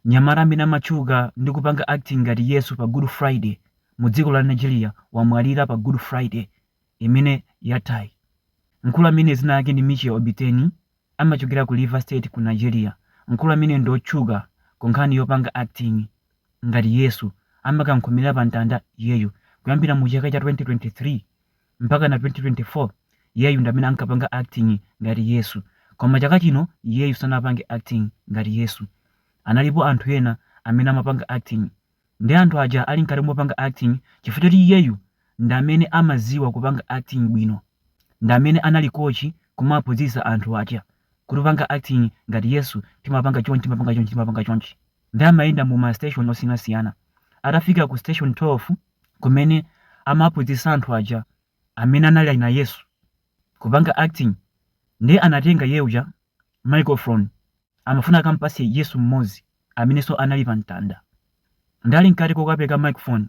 Mnyamata amene amatchuka ndi kupanga acting ngati Yesu pa Good Friday mu dziko la Nigeria wamwalira pa Good Friday imene yathayi. Mkulu ameneyi dzina lake ndi Mitchell Obiteni amachokera ku Rivers State ku Nigeria. Mkulu ameneyu ndi otchuka ku nkhani yopanga acting ngati Yesu. Amakamkhomera pa mtanda iyeyu kuyambira mu chaka cha 2023. mpaka na 2024 iyeyu ndi amene ankapanga acting ngati Yesu koma chaka chino iyeyu sanapange acting ngati Yesu analipo anthu ena amene amapanga acting ndi anthu aja ali mkati mopanga acting chifukwa choti iyeyu ndi amene amaziwa kupanga acting bwino ndi amene anali coach kumaphunzitsa anthu aja kuti kupanga acting ngati Yesu timapanga chonchi timapanga chonchi timapanga chonchi ndi amayenda mu ma station osiyanasiyana atafika ku station 12 kumene amaphunzitsa anthu aja amene anali ali na Yesu kupanga acting ndiye anatenga iye uja microphone amafuna akampase Yesu mmodzi amenenso anali pa mtanda ndi ali mkati kokapereka microphone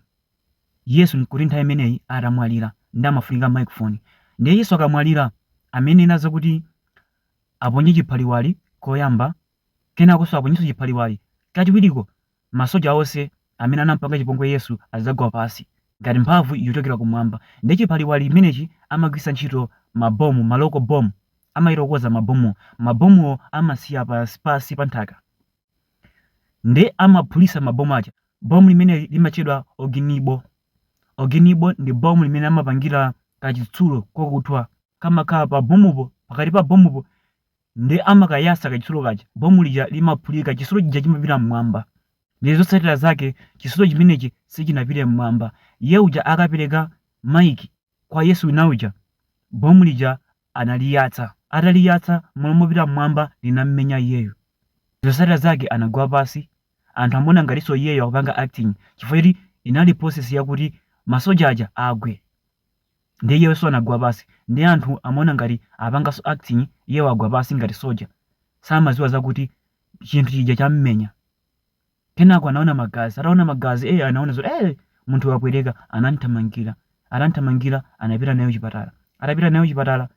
Yesu nkuti nthawi imeneyi atamwalira ndi amafunika microphone ndiye Yesu akamwalira amanena zakuti aponye chiphaliwali koyamba kenakonso aponyenso chiphaliwali kachiwiriko Masoja onse amene anam'panga chipongwe Yesu adzagwa pansi ngati mphamvu yochokera kumwamba. Ndiye chiphaliwali imenechi amagwiritsa ntchito mabomu, ma local bomb, amachita kukonza mabomuwo. Mabomuwo amasiya pansi, pansi pa nthaka. Ndiye amaphulitsa mabomu aja. Bomu limeneli limatchedwa oginibol. Oginibol ndi bomu limene amapangira kachitsulo kokuthwa. Kamakhala pa bomupo, pakati pa bomupo Ndiye amakayatsa kachitsulo kaja, bomu lija limaphulika, chitsulo chija chimapita m'mwamba. Ndiye zotsatira zake chitsulo chimenechi sichinapite m'mwamba. Iye uja akapereka maiki kwa Yesu wina uja, bomu lija analiyatsa. Ataliyatsa, m'malo mopita m'mwamba linammenya iyeyo. Zotsatira zake anagwa pansi, anthu amaona ngatinso iyeyo akupanga acting chifukwa choti inali process yakuti masoja aja agwe. Ndiye iyeso anagwa pasi ndiye anthu amaona ngati apangaso acting iye wagwa pasi ngati soja samaziwa zakuti chinthu chija chammenya kenako anaona magazi ataona magazi ee anaona zoti ee munthu wapweteka anamthamangira atamthamangira anapita naye kuchipatala atapita naye kuchipatala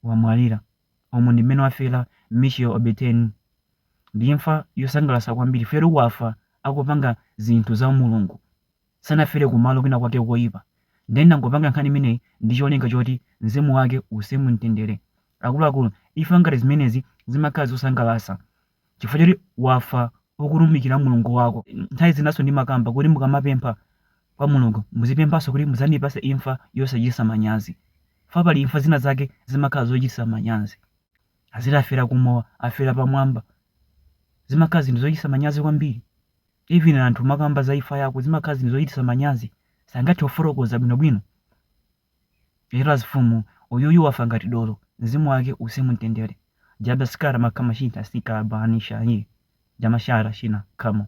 wamwalira umu ndi mmene wafera Michel Obiteni ndi imfa yosangalasa kwambiri feru wafa akupanga zinthu za mulungu Sanafere kumalo kwina kwake koyipa nde ndangopanga nkhani imeneyi ndicholinga choti mzimu wake uwuse mumtendere. Akuluakulu imfa ngati zimenezi zimakhala zosangalasa chifukwa choti wafa ukutumikira Mulungu wako. Nthawi zinaso ndimakamba kuti mukamapempha Kwa Mulungu muzipemphaso kuti mudzandipase imfa yosachitisa manyazi chifukwa pali imfa zina zake zimakhala zochitisa manyazi aziti afera kumowa afera pamwamba zimakhala zinthu zochitisa manyazi kwambiri. Even anthu akamakamba za imfa yako zimakhala zinthu zochitisa manyazi sangathe kufotokoza bwino bwino whereas mfumu uyuyu wafa ngati dolo mzimu wake uwuse mumtendere jabascar makamashita sikabani shahi jamashara shina kamo.